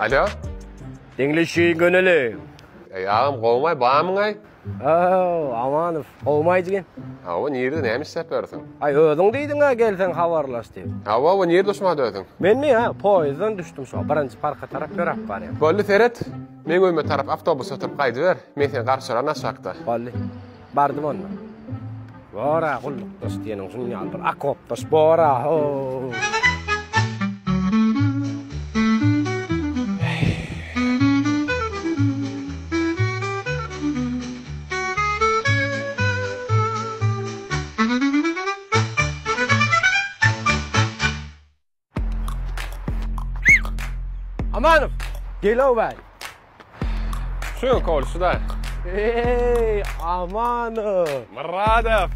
Alo? Diňleşi göneli. Ey ağam gowmay bamyňay? Oo, Amanow, gowmay diýen. Hawa, nirde näme isläp ýörsiň? Ay özüň diýdiň ha gelseň habarlaş diýip. Hawa, we nirde uçma dördüň? Men mi ha, poýdan düşdüm şu, birinji parka tarap ýöräp barýan. Bolly seret. Meň öýüme tarap awtobusda oturyp gaýdyber, men seni garşylaryn aşakda. Boldy. Bardym onda. Bor-a, gullukdaş diýeniň şunuň ýaly bir okopdaş bor-a, ho-o-o! Amanow, gel-ow bäý. Şu, kol, şu da. Eý, Amanow. Myradow.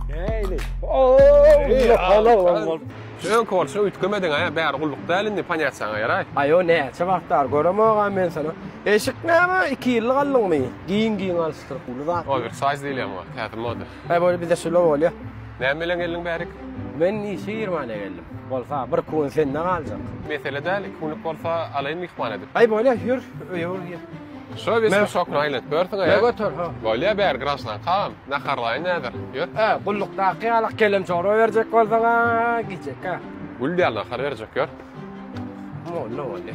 Eýli. Ow, hala olam bol. Şu, kol, şu üýtgemediň, aýa, bäri gulluk däl indi, panýat saňa ýaraý. Aýo, näçe wagtlar göremogam men seni. Eşik näme, iki ýyllyk aldyňmy? Giň-giň alşdyr, uly zat. Owersaýz diýilýän bu, täze moda. Häý bolýa bizde şular bolýa. Näme bilen geldiň bärik? Men işe girmäne geldim. Bolsa bir kuwin sende galjak. Mesele däl iki günlük bolsa alaýyn myhman edip. Häý bolýa ýör öýe ol gir. Şo wesna şokyny aýlatyp ýörsiňä ýa? Göter ha. Bolýa bäri graždankam naharlaýyn häzir ýör. Ä gullukdaky ýalak kelem çorba berjek bolsaňa giýjekkä. Gül däl nahar berjek ýör. Molla bolýa.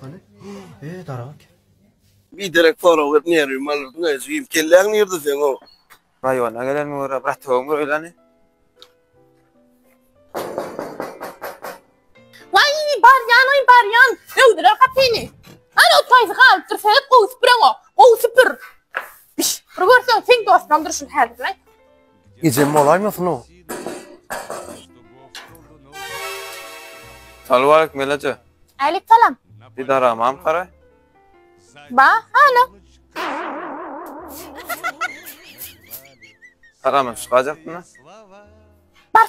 Hani? E, daragt. Bir derek pora berip nerwim alyrdyň aý jigim. Kelläň nirde seň o? Raýona gelenime görä bratogym görýäni. Waý, barýan aý barýan. Döwdüler gapyny. Hany o taýsy galypdyr sebäp gowy süpüreňok. Gowy süpür. Biş, bir görseň seň dostlaň durşun häzir nät. Ejem bolaýmasyn o? Salam aleyküm Elaja. Älik salam. Didara mam kara. Ba, hala. Karaman şu gajakdyna. Bar,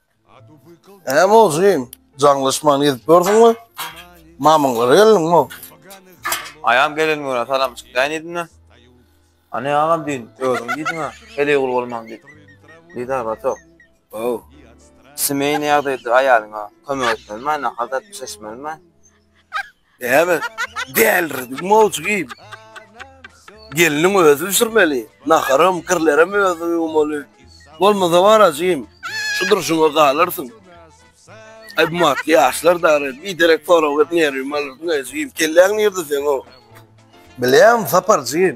Näme boldy jigim? Jaňlaşman gezip ýörsüňmi? Mamyňlara geldiňmi? Aýam gelen güne salam çykýan edin-de. Ane agam diýin, özüň diýdiň-ä, heleýgul bolmaň diýip. Didar batok. Ow. Semeýny ýagdaýdyr aýalyňa kömek etmelimäý, nahar dadyp bişirişmelimäý. Näme? Dälirdik mowjugim. Gelniň özi bişirmeli. Naharam, kirlerem özi ýuwmaly. Bolmasa bar ajym, şu durşuňa galarsyň. Aý bu wagtky ýaşlar dary, biderek sorag berip nerwimi alyrsyň ajym. Kelläň nirde seň-ow? Bilýän, Saparjym.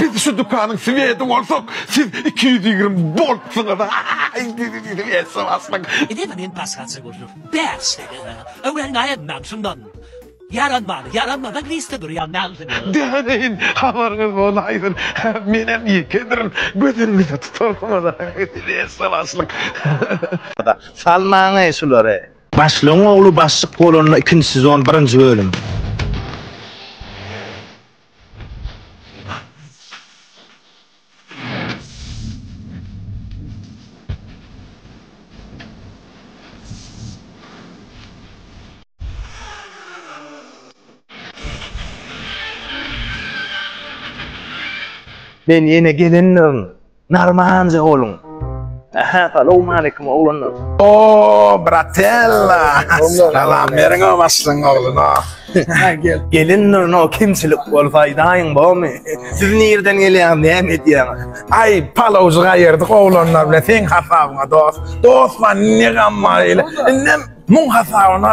Biz şu dükanyň swedi bolsak, siz iki ýüz ýigrimi boltsyňyz. Ine-de men başgaça görnüp, bäşlege-ä. Öwren gaýynmam şundan. Ýaranmany, ýaranmadan liste durýan naglyny. Däneýin, habaryňyz bolaýsyn. Menem ýekedirn, gözüňize tutarsyňyz. Ýa-da, salmaň-eý şulary. Başlygyň ogly başlyk bolanda ikinji sezon birinji bölüm. Men ýene gelendirin. Narmanca olun. Aha, salam aleyküm oglanlar. Oo, bratella. Salam beriň o başlyň ogluna. Gel. Gelindir no kimçilik bol faýdaýyň bomy? Siz nirden gelýäň, näme edýäň? Ay, palawjy gaýyrdyk oglanlar bilen seň hasabyňa dost. Dost bar, ne gam bar ile. Indem muň hasabyna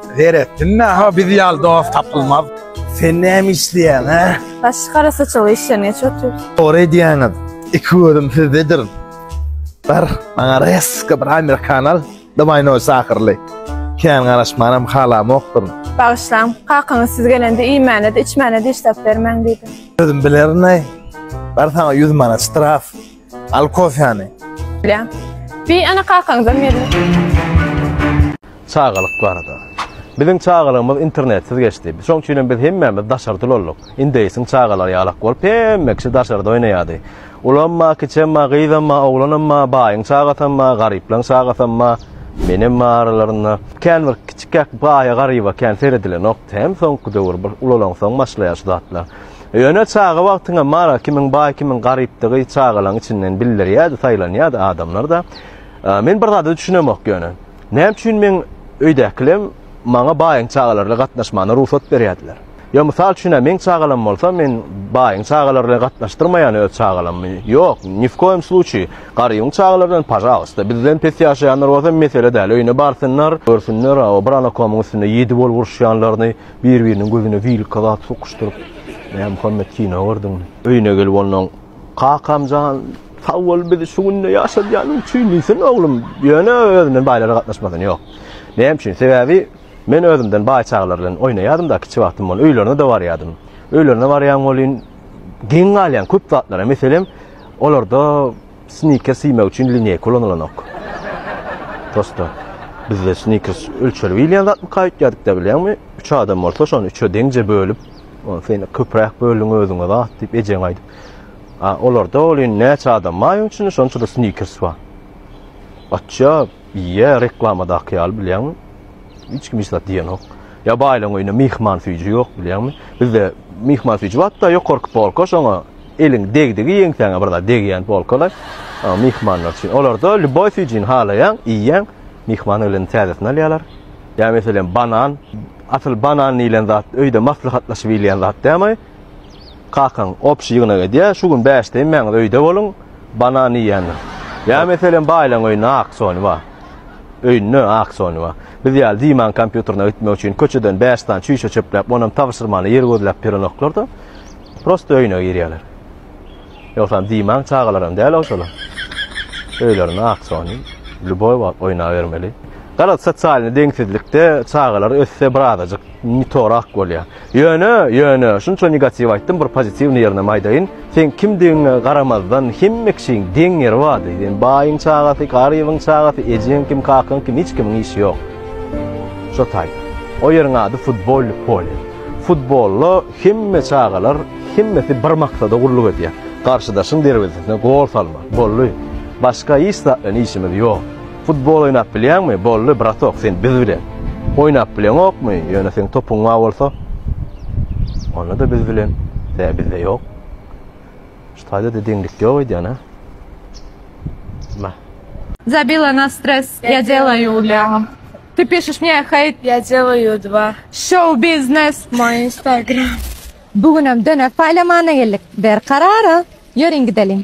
Zeretdin-ä ha biz ýaly dost tapylmaz. Sen näme işleýäň, hä? Baş gara saçaly işleýän hiç otur. Dogry edýäňiz. Iki gözüm sizdedir. Bir maňa reska bir amerikan al, dymyno şahyrly. Kän garaşmanam halamokdyryn. Bagyşlaň, kakaňyz siz gelende iýmäne-de, içmäne-de hiç zat bermäň diýdi. Özüm bilerin-eý. Bar saňa ýüz manat ştraf. Al kofäni. Bilýän. Bir ana kakaňyzam berler. Çagalyk barada. Biziň çagalygymyz internetsiz geçdi. Şoň üçin hem biz hemmämiz daşarda ulaldyk. Indeýsiň çagalary ýalak bolup, hemme kişi daşarda oýnaýardy. Ulamma, kiçemma, gyzamma, oglanamma, baýyň çagasamma, garyplaň çagasamma, menem bar aralarynda. Kän bir kiçikäk baýa-garyba kän seredilenokdy hem soňky döwür bir ulalaňsoň başlaýar şu zatlar. Ýöne çaga wagtyňa Mara kimin baý kimin garypdygy çagalaň içinden bildirýädi saýlanýady adamlarda men bir zada düşünemok ýöne näme üçin meň öýdäkilem maňa baýyň çagalaryla gatnaşmana rugsat berýädiler ýa mysal üçin meň çagalam bolsa men baýyň çagalaryla gatnaşdyrmaýan öz çagalamy ýok nifkoýum sluçiý garybyň çagalarydan pažalysta bizden pes ýaşaýanlar bolsa mesele däl öýüne barsynlar görsünler o bir anakomyň üstünde ýedi bolup uruşýanlaryny Bir-biriniň gözüne zilka zat sokuşdyryp, Mämmuhammet kino gördüň. Öýüne gelip ondan, Kakam jan, sag bol bizi şu günde ýaşadýanyň üçin diýsin, oglum, ýöne özünden baýlara gatnaşmasyn, ýok. Näme üçin? Sebäbi men özümden baý çagalar bilen oýnaýardym-da, kiçi wagtym bolup, öýlerine-de barýardym. Öýlerine barýan welin, geň galýaň köp zatlara. Meselem, olarda Snickers iýmek üçin lineýka ulanylanok. Prosta bizde snickers ölçelip iýilýän zatmyka öýtýädikdä bilýäňmi? Üç adam bolsa şony üçe deňje bölüp, ony sen köpräk böldüň özüňe zat diýip ejeň aýdyp. A olarda welin näçe adam bar öň içinde şonça-da snickers bar. Gaçýar. Ýe reklamadaky ýaly bilýäňmi hiç kim hiç zat diýenok. Ýa baýlaň öýüne myhman süýji ýok bilýäňmi. Bizde myhman süýji barda ýokarky polka şoňa eliň degdigi ýeňsäňe bir zat degýän polkalar myhmanlar üçin. Olarda lýuboý süýjini halaýaň iýýäň myhman gelende täzesini alýalar. Ýa meselem banan asyl banan diýlen zat öýde maslahatlaşyp iýilýän zat dälmi. Kakaň obşi ýygnak edýär, şu gün bäşde inmäňiz öýde boluň, banan iýendir. Ýa meselem baýlaň öýünde auksion bar. Öýünde auksion bar. Biz ýaly Dimaň kompýuterine gitmek üçin köçeden bäş sany çüýşe çöpläp, onam tabşyrmana ýer gözläp ýörenoklar-da, prosta öýüne girýärler. Ýogsam Dimaň çagalaram däl-ow şolar. Öýlerinde auksion, lýuboý wagt oýnabermeli. Garaz, sosialnyý deňsizlikde çagalar össe birazajyk nitorak bolýar. Ýöne, ýöne, şunça negatiw aýtdym, bir pozitiwnyý ýerinem aýdaýyn. Seň kimdigiňe garamazdan, hemme kişiň deň ýeri bardy. Sen baýyň çagasy, garybyň çagasy, ejeň kim, kakaň kim, hiç kimiň işi ýok. Şo taýda. O ýeriň ady futbolly polýa. Futbolda hemme çagalar, hemmesi bir maksada gulluk edýär. Garşydaşyň derwezesine gol salmak. Boldy. Başga hiç zatdan işimiz ýok. Futbol oýnap bilýäňmi? Boldy, bratok, sen biz bilen. Oýnap bileňokmy? Ýöne seň topuň bar bolsa, onda-da biz bilen. Tä bizde ýok. Şu taýda-da deňlik ýok öýdýän-a. Mah. Zabila na stres, ýa delaýu ýa. Ty pišeš mně hejt, ýa delaýu dva. Şou biznes, moj instagram. Bu günem döner paýlamana geldik. Ber karara, ýöriň gideliň.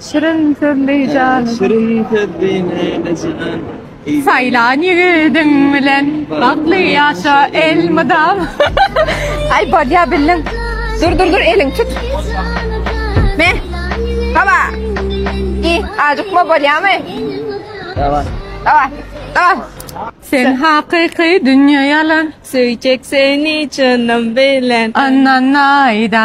Şirin sözli jan eken. Şirin sözli nenejan. Saýlan ýigidiň bilen bagtly ýaşa elmydam. Aý bolýa bildim. Dur dur dur eliň tut. Me. Baba. Gi ajykma bolýamy. Daway. Daway. Daway. Sen hakyky dünýe ýalan. Söýjek seni jynym bilen. Annanaýda.